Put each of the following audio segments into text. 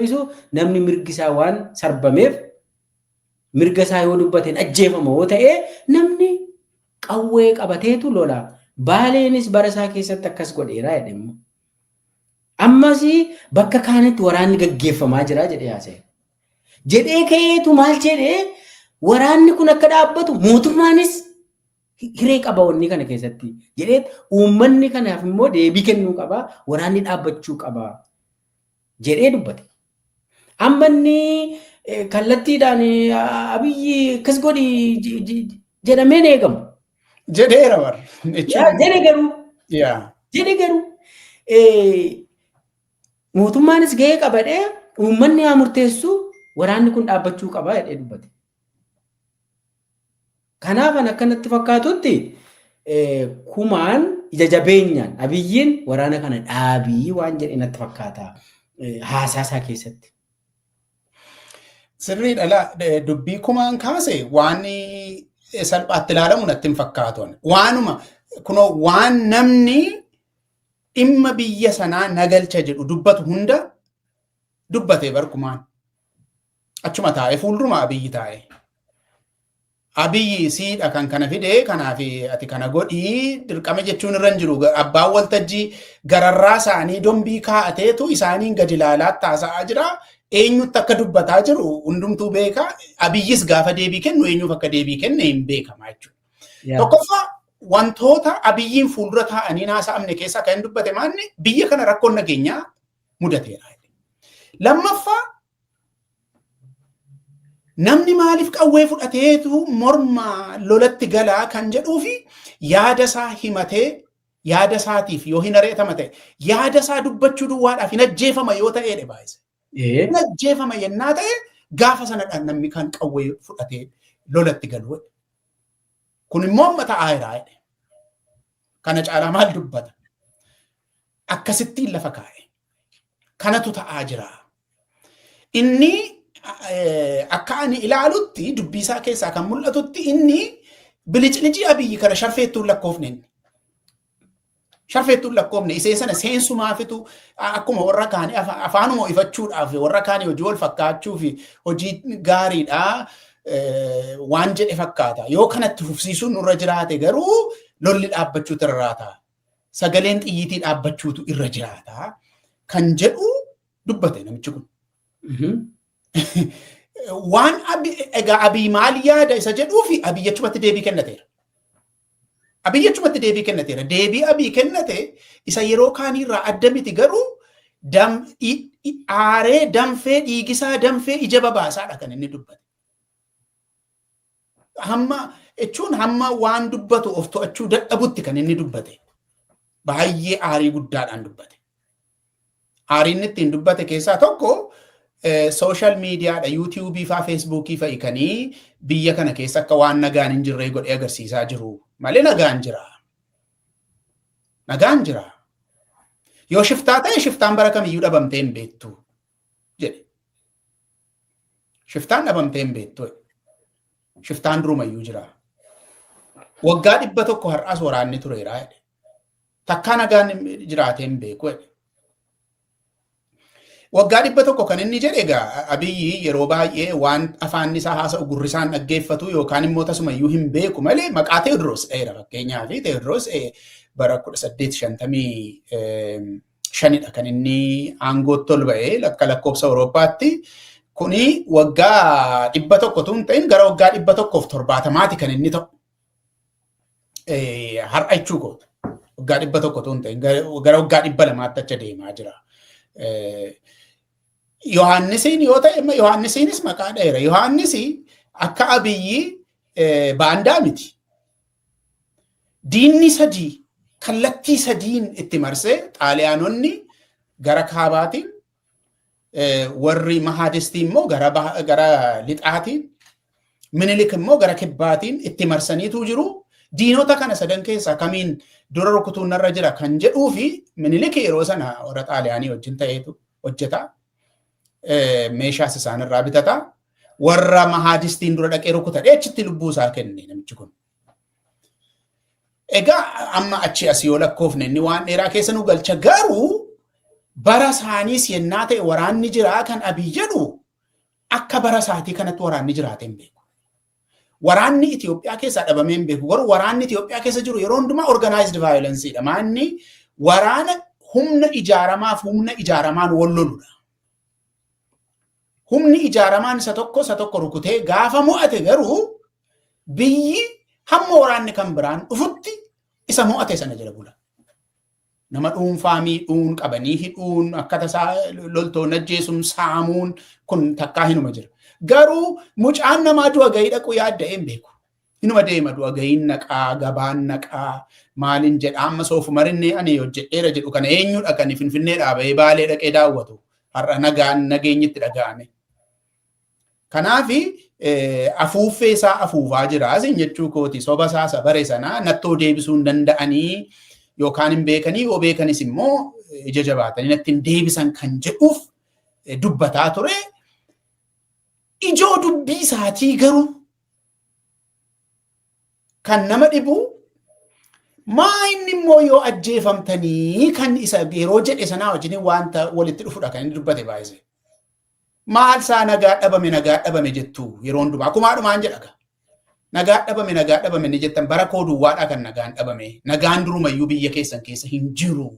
deebisu namni mirgi isaa waan sarbameef mirga isaa yoo dubbateen ajjeefama yoo ta'e namni qawwee qabateetu lola. Baaleenis bara isaa keessatti akkas godheera jedhe immoo. Ammas bakka kaanitti waraanni gaggeeffamaa jira jedhee haasa'e. Jedhee ka'eetu maal jedhee waraanni kun akka dhaabbatu mootummaanis hiree qaba wanni kana keessatti jedhee uummanni kanaaf immoo deebii kennuu qaba waraanni dhaabbachuu qaba jedhee dubbate. Amma inni kallattiidhaan abiyyi akkas godhi jedhameen eegamu. Jedheera warri. Jedhe garuu. Jedhe garuu. Mootummaanis gahee qabadhee uummanni haa murteessu waraanni kun dhaabbachuu qaba jedhee dubbate. Kanaaf an akka natti fakkaatutti kumaan ija jabeenyaan abiyyiin waraana kana dhaabii waan jedhe natti fakkaata haasaa isaa keessatti. Sirrii dhala dubbii kumaan kaase waan salphaatti ilaalamu natti hin fakkaatu. Waanuma kunoo waan namni dhimma biyya sanaa nagalcha jedhu dubbatu hunda dubbatee bar kumaan. Achuma taa'e fuulduruma Abiyyi taa'e. Abiyyi siidha kan kana fide kanaaf ati kana godhii dirqama jechuun irra hin jiru. Abbaan waltajjii gararraa isaanii dombii kaa'ateetu isaaniin gadi ilaalaa taasa'aa jira. Eenyutti akka dubbataa jiru hundumtuu beeka. Abiyyis gaafa deebii kennu eenyuuf akka deebii kenne hin beekama jechuudha. Tokkoffaa wantoota abiyyiin fuuldura taa'anii haasa'amne keessaa kan dubbate maanni biyya kana rakkoon nageenyaa mudateera. Lammaffaa Namni maaliif qawwee fudhateetu morma lolatti galaa kan jedhuu fi yaada isaa himatee yaada isaatiif yoo hin ari'atama ta'e yaada isaa dubbachuu duwwaadhaaf hin ajjeefama yoo ta'ee dhe baay'ise. Hin ajjeefama yennaa ta'e gaafa sanadhaan namni kan qawwee fudhatee lolatti galu. Kun immoo amma ta'aa jiraa jedhe. Kana caalaa maal dubbata? Akkasittiin lafa kaa'e. Kanatu ta'aa jira. Inni akka ani ilaalutti dubbiisaa keessaa kan mul'atutti inni biliclicii abiyyi kana sharfeettuun lakkoofne inni. Sharfeettuun lakkoofne isee sana seensumaafitu akkuma warra kaanii afaanuma ifachuudhaaf warra kaanii hojii wal fakkaachuu fi hojii gaariidha waan jedhe fakkaata. Yoo kanatti fufsiisuun nurra jiraate garuu lolli dhaabbachuutu irraa ta'a. sagaleen xiyyiitii dhaabbachuutu irra jiraata kan jedhu dubbate namichi kun. Waan egaa abiy maal yaada isa jedhuu fi abiy jechumatti deebii kennateera. Abiy jechumatti deebii kennateera. Deebii abiy kennate isa yeroo kaaniirraa adda miti garuu aaree danfee dhiigisaa danfee ija babaasaadha kan inni dubbate. hamma jechuun hamma waan dubbatu of to'achuu dadhabutti kan inni dubbate baay'ee aarii guddaadhaan dubbate. Aarii inni ittiin dubbate keessaa tokko sooshaal miidiyaadha yuutiyuubii faa feesbuukii fa'i kanii biyya kana keessa akka waan nagaan hin jirree godhee agarsiisaa jiru malee nagaan jira. Nagaan jira. Yoo shiftaa ta'e shiftaan bara kamiyyuu dhabamtee hin beektu. jedhe. Shiftaan dhabamtee hin beektu. Shiftaan durumayyuu jira. Waggaa dhibba tokko har'aas waraanni tureera jedhe. Takkaa nagaan jiraatee hin beeku jedhe. Waggaa dhibba tokko kan inni jedhe egaa abiyyi yeroo baay'ee waan afaan isaa haasa'u gurri isaan dhaggeeffatu yookaan immoo tasumayyuu hin beeku malee maqaa Teewodiroos dheera fakkeenyaaf Teewodiroos bara kudha saddeet shantamii shanidha kan inni aangootti ol ba'e akka lakkoofsa Awurooppaatti. Kuni waggaa dhibba tokko tun ta'in gara waggaa dhibba tokkoof torbaatamaati kan inni ta'u. Har'a jechuu kooti. Waggaa dhibba tokko tun ta'in gara waggaa dhibba lamaatti achi deemaa jira. Yohaannisiin yoo ta'e Yohaannisiinis maqaa dheera. Yohaannis akka abiyyi baandaa miti. Diinni sadii kallattii sadiin itti marsee xaaliyaanonni gara kaabaatiin warri mahaadistii immoo gara lixaatiin minilik immoo gara kibbaatiin itti marsaniitu jiru. Diinota kana sadan keessaa kamiin dura rukutuun narra jira kan jedhuu fi minilik yeroo sana warra xaaliyaanii wajjin ta'eetu hojjeta. meeshaas isaanirraa bitata. Warra mahaadistiin dura dhaqee rukuta dheechitti lubbuu isaa kenne namichi kun. Egaa amma achi asii yoo lakkoofne inni waan dheeraa keessa nu galcha garuu bara isaaniis yennaa ta'e waraanni jiraa kan abii jedhu akka bara isaatii kanatti waraanni jiraatee hin beeku. Waraanni Itoophiyaa keessaa dhabamee hin beeku. Garuu waraanni Itoophiyaa keessa jiru yeroo hundumaa organized violence dha. Maanni waraana humna ijaaramaaf humna ijaaramaan wal loludha. Humni ijaaramaan isa tokko isa tokko rukutee gaafa mo'ate garuu biyyi hamma waraanni kan biraan dhufutti isa mo'ate sana jala bula. Nama dhuunfaa miidhuun qabanii hidhuun akka tasaa loltoon ajjeesuun saamuun kun takkaa hinuma jira. Garuu mucaan namaa du'a gahii dhaquu yaadda'ee hin beeku. Hinuma deema du'a gahiin naqaa gabaan naqaa maaliin jedha amma soofumarinni ani hojjedheera jedhu kana eenyudha kan finfinnee dhaabee baalee dhaqee daawwatu har'a nagaan nageenyitti dhaga'ame. Kanaaf afuuffee isaa afuufaa jira isin jechuu kooti soba isaa isa bare sana nattoo deebisuu hin danda'anii yookaan hin beekanii yoo beekanis immoo ija jabaatanii natti hin deebisan kan jedhuuf dubbataa ture. Ijoo dubbii isaatii garuu kan nama dhibu maa inni immoo yoo ajjeefamtanii kan isa yeroo jedhe sanaa wajjin wanta walitti dhufudha kan inni dubbate baay'ise. Maal isaa nagaa dhabame nagaa dhabame jettu yeroo hundumaa kumaa dhumaan jedha gaa. Nagaa dhabame nagaa dhabame ni jettan bara koo duwwaadhaa kan nagaan dhabame nagaan durumayyuu biyya keessan keessa hin jiru.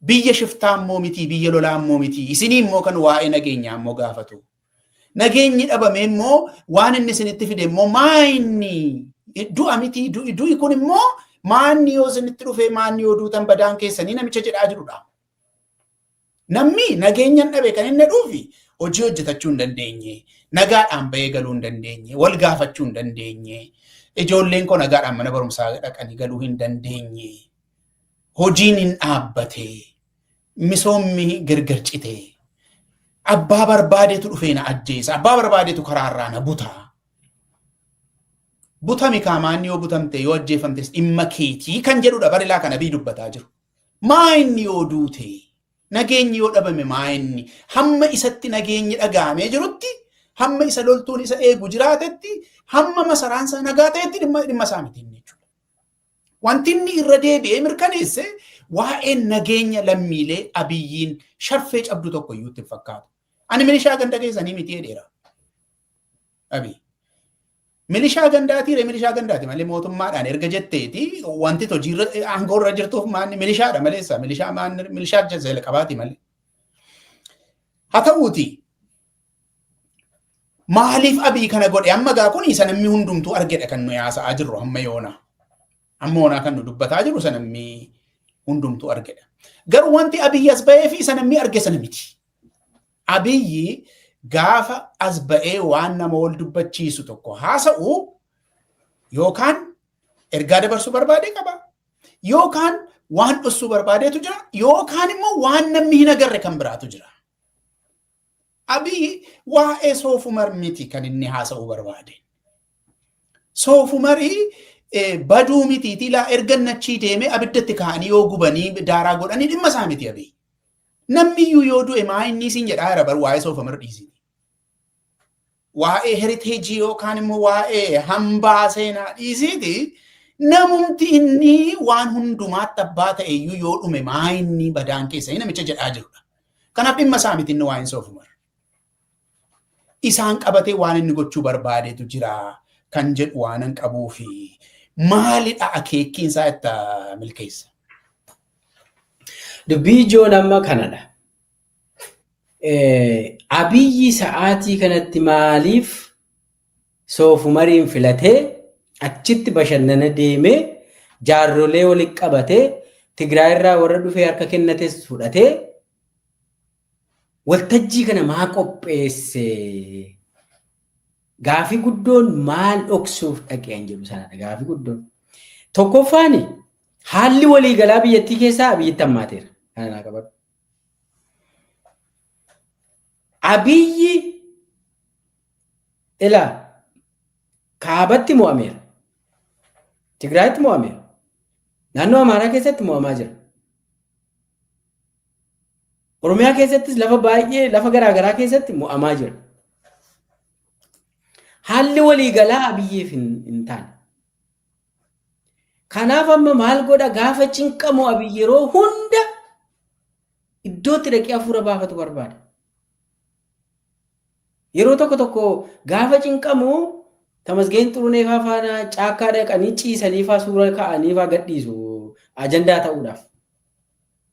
Biyya shiftaa immoo miti biyya lolaa immoo miti isinii immoo kan waa'ee nageenyaa immoo gaafatu. Nageenyi dhabame immoo waan inni isinitti fide immoo maa inni du'a miti du'i kun immoo maanni yoo isinitti dhufe maanni yoo duutan badaan keessanii namicha jedhaa jirudha. Namni nageenyan dhabe kan inni dhuufi hojii hojjetachuu hin dandeenye, nagaadhaan bahee galuu hin dandeenye, wal gaafachuu hin dandeenye, ijoolleen koo nagaadhaan mana barumsaa dhaqanii galuu hin dandeenye, hojiin hin dhaabbate, misoomni gargar cite, abbaa barbaadeetu dhufee na ajjeesa, abbaa barbaadeetu karaarraa na buta. Butami kaamaan yoo butamte yoo ajjeefamtes dhimma keetii kan jedhudha barilaa kana bii dubbataa jiru. Maa inni yoo duute nageenyi yoo dhabame maa inni hamma isatti nageenyi dhaga'amee jirutti hamma isa loltuun isa eegu jiraatetti hamma masaraan isaa nagaa ta'etti dhimma dhimma isaa miti inni jechuudha. Wanti inni irra deebi'ee mirkaneesse waa'een nageenya lammiilee abiyyiin shaffee cabdu tokko iyyuu itti hin fakkaatu. Ani milishaa ganda keessanii miti jedheera. Abiy. Milishaa gandaatii ree milishaa gandaati malee mootummaadhaan erga jetteeti wanti hojii aangoo irra jirtuuf maanni milishaadha maleessa milishaa maanni milishaa jazela qabaati malee. Haa ta'uuti maaliif abii kana godhe amma gaa kun isa namni hundumtuu argedha kan nu yaasa'aa jirru hamma yoona. Amma yoonaa kan nu dubbataa jirru isa namni hundumtuu argedha. Garuu wanti abii as ba'ee fi isa namni arge sana miti. Abiyyi gaafa as ba'ee waan nama wal dubbachiisu tokko haasa'u yookaan ergaa dabarsuu barbaadee qaba yookaan waan dhossuu barbaadeetu jira yookaan immoo waan namni hin agarre kan biraatu jira. Abiyyi waa'ee soofumar miti kan inni haasa'uu barbaade. Soofumarii baduu mitiitii laa erga nachii deemee abiddatti kaa'anii yoo gubanii daaraa godhanii dhimma isaa miti abiyyi. Namni iyyuu yoo du'e maa inni isin jedhaa jira bar waa'ee soofamar dhiisiti. Waa'ee heriteejii yookaan immoo waa'ee hambaa seenaa dhiisiti. Namumti inni waan hundumaatti abbaa ta'e iyyuu yoo dhume maa inni badaan keessa namicha jedhaa jirudha. Kanaaf dhimma isaa miti inni waa'een soofamar. isaan qabatee waan inni gochuu barbaadetu jira kan jedhu waanan qabuufi maalidha akeekkiin isaa itti milkeessa. Dubbii ijoon amma kanadha. Abiyyi sa'aatii kanatti maaliif soofumariin filatee achitti bashannana deemee jaarrolee walitti qabatee Tigraay irraa warra dhufee harka kennates fudhatee Waltajjii kana maa qopheesse? Gaafii guddoon maal dhoksuuf dhaqeen jedhu sanadha gaafii guddoon. Tokkoffaan haalli waliigalaa biyyattii keessaa abiyyitti hammaateera. Kana naa qabadhu. Abiyyi ilaa kaabatti mo'ameera. Tigraayitti mo'ameera. Naannoo Amaaraa keessatti mo'amaa jira. Oromiyaa keessattis lafa baay'ee lafa garaa garaa keessatti mo'amaa jira. Haalli waliigalaa Abiyyiif hin taane. Kanaaf amma maal godha gaafa cinqamu Abiyyi yeroo hunda iddootti dhaqee hafuura baafatu barbaada. Yeroo tokko tokko gaafa cinqamu tamasgeen xurunee faa faana caakkaa dhaqanii ciisanii faa suura ka'anii faa gadhiisu ajandaa ta'uudhaaf.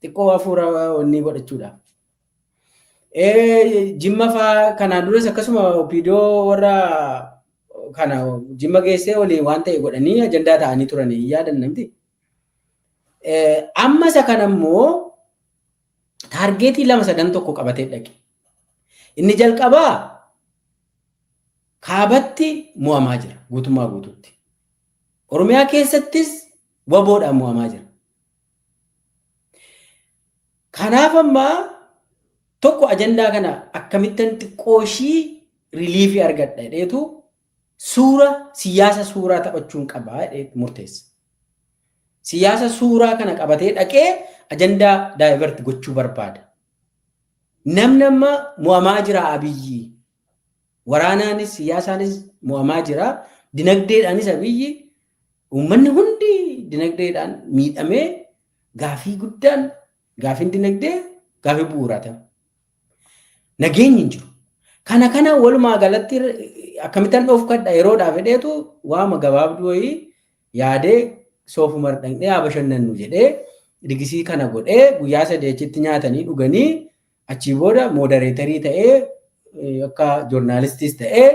Xiqqoo hafuura onnii godhachuudha. Ee, Jimma faa kanaan duras akkasuma opiidoo warra kana jimma geessee waliin waan ta'e godhanii ajandaa ta'anii turanii hin yaadan namti. Eh, Amma isa kana immoo taargeetii lama sadan tokko qabatee dhaqe. Inni jalqabaa kaabatti mo'amaa jira guutummaa guutuutti. Oromiyaa keessattis waboodhaan mo'amaa jira. Kanaaf amma tokko ajandaa kana akkamittan xiqqoo ishii riliifii argadha jedheetu suura siyaasa suuraa taphachuun qaba jedhee murteessa. Siyaasa suuraa kana qabatee dhaqee ajandaa daayivert gochuu barbaada. Namni amma mo'amaa jira abiyyi. Waraanaanis siyaasaanis mo'amaa jira. Dinagdeedhaanis abiyyi Uummanni hundi dinagdeedhaan miidhamee gaafii guddaan gaafiin dinagdee gaafii bu'uuraa ta'e. Nageenyi hin jiru. Kana kana walumaa galatti akkamittan dhoofkadha yeroodhaaf jedheetu waama gabaabduu wayii yaadee soofumar dhaqnee haa bashannannu jedhee digisii kana godhee guyyaa sadii achitti nyaatanii dhuganii achii booda moodareetarii ta'ee akka joornaalistiis ta'ee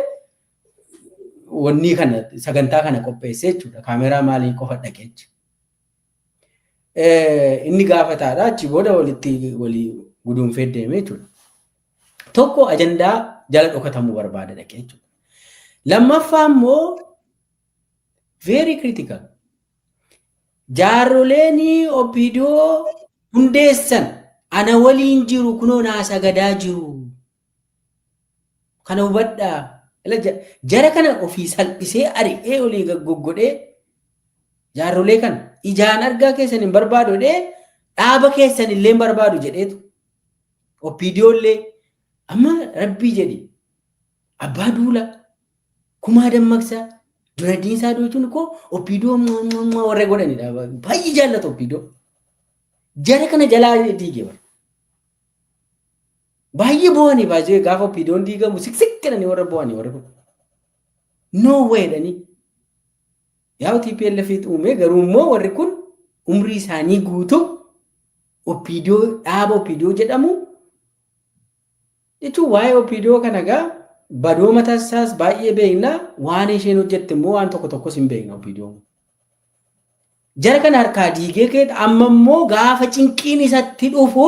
wannii kana sagantaa kana qopheessee jechuudha. Kaameeraa maalii qofa dhaqee jechuudha. Inni gaafataadha achi booda walitti walii guduunfee deemee jechuudha. Tokko ajandaa jala dhokatamuu barbaada dhaqee jechuudha. Lammaffaa immoo very critical. Jaarroleen OPDO hundeessan ana waliin jiru kunoo naa sagadaa jiru Kana hubadhaa. Ila ja- Jara kana ofii salphisee ari'ee olii gad goggodhee jaarrolee kana ijaan argaa keessan hin barbaadu jedhee dhaaba keessan illee hin barbaadu jedheetu. Oppiidiyoo illee amma rabbii jedhi abbaa duula kumaa dammaqsaa dura diinsaa doochuun koo oppiidiyoo mwa- mwa- mwa warra godhanidha. Baay'ee jaallatu oppiidiyoo. Jara kana jalaa diige bara. Baay'ee boo'anii baay'ee gaafa opiidoon diigamu siksik jedhanii warra boo'anii warri kun. No way jedhanii. Yaa TPLF uumee garuu immoo warri kun umrii isaanii guutuu opiidoo dhaaba opiidoo jedhamu jechuun waa'ee opiidoo kana gaa badoo mataa isaas baay'ee beekna waan isheen hojjette immoo waan tokko tokkos hin beekna opiidoo. Jara kana harkaa diigee keet amma immoo gaafa cinqiin isatti dhufu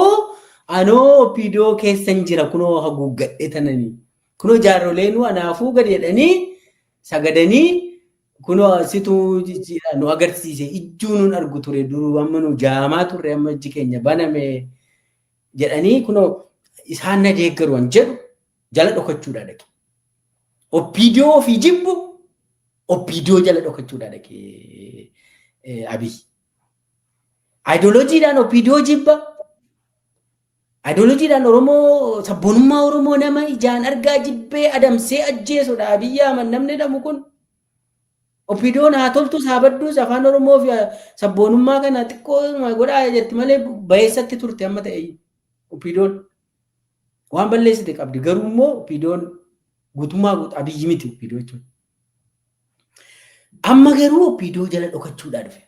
anoo opdo keessan jira kunoo haguuggadhe tananii kunoo jaarroleen anaafuu gad jedhanii sagadanii kunoo situ nu agarsiise ijjuu nun argu ture duruu amma nu jaamaa turre amma ijji keenya baname jedhanii kunoo isaan na deeggaru an jedhu jala dhokachuudhaa dhaqe. Oppiidiyoo ofii jibbu oppiidiyoo jala dhokachuudhaa dhaqe Abiy. Ayidooloojiidhaan oppiidiyoo jibba. Ayidooloojiidhaan Oromoo sabboonummaa Oromoo nama ijaan argaa jibbee adamsee ajjeesudha Abiy Ahmad namni jedhamu kun. Oppiidiyoon haa toltus haa badduus afaan Oromoo fi sabboonummaa kana xiqqoo godhaa jetti malee bayeessatti turte amma ta'e oppiidiyoon. Waan balleessite qabdi garuu immoo opiidoon guutummaa guutu abiyyi miti opiidoo jechuudha. Amma garuu opiidoo jala dhokachuudhaa dhufe.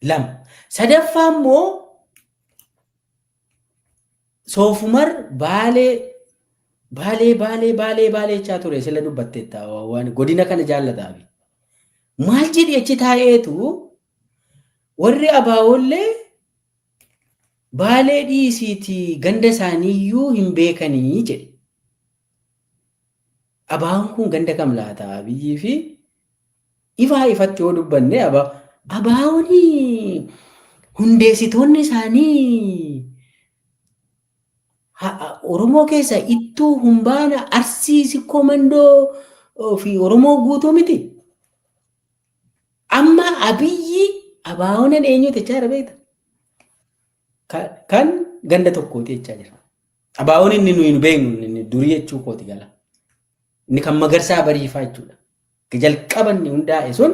Lama. Sadaffaa immoo soofumar baalee baalee baalee baalee baalee jechaa ture sila dubbatteetta waan godina kana jaallataa fi maal jedhi achi taa'eetu warri abaawoollee Baalee dhiisiitii ganda isaaniiyyuu hin beekani jedhe. Abaan kun ganda kam laata Abiyyii fi ifaa ifatti yoo dubbanne abaa abaawoni hundeessitoonni isaanii ha- ha- Oromoo keessa ittuu humbaana arsii sikkoo mandoo fi Oromoo guutuu miti. Amma abiyyi abaawonan eenyuu jechaa jira beekta? Ka- Kan ganda tokkooti jechaa jira. Abaawon inni nuyi nu beeknu inni durii jechuu kooti gala. Inni kan magarsaa bariifaa jechuudha. Jalqaba inni hundaa'e sun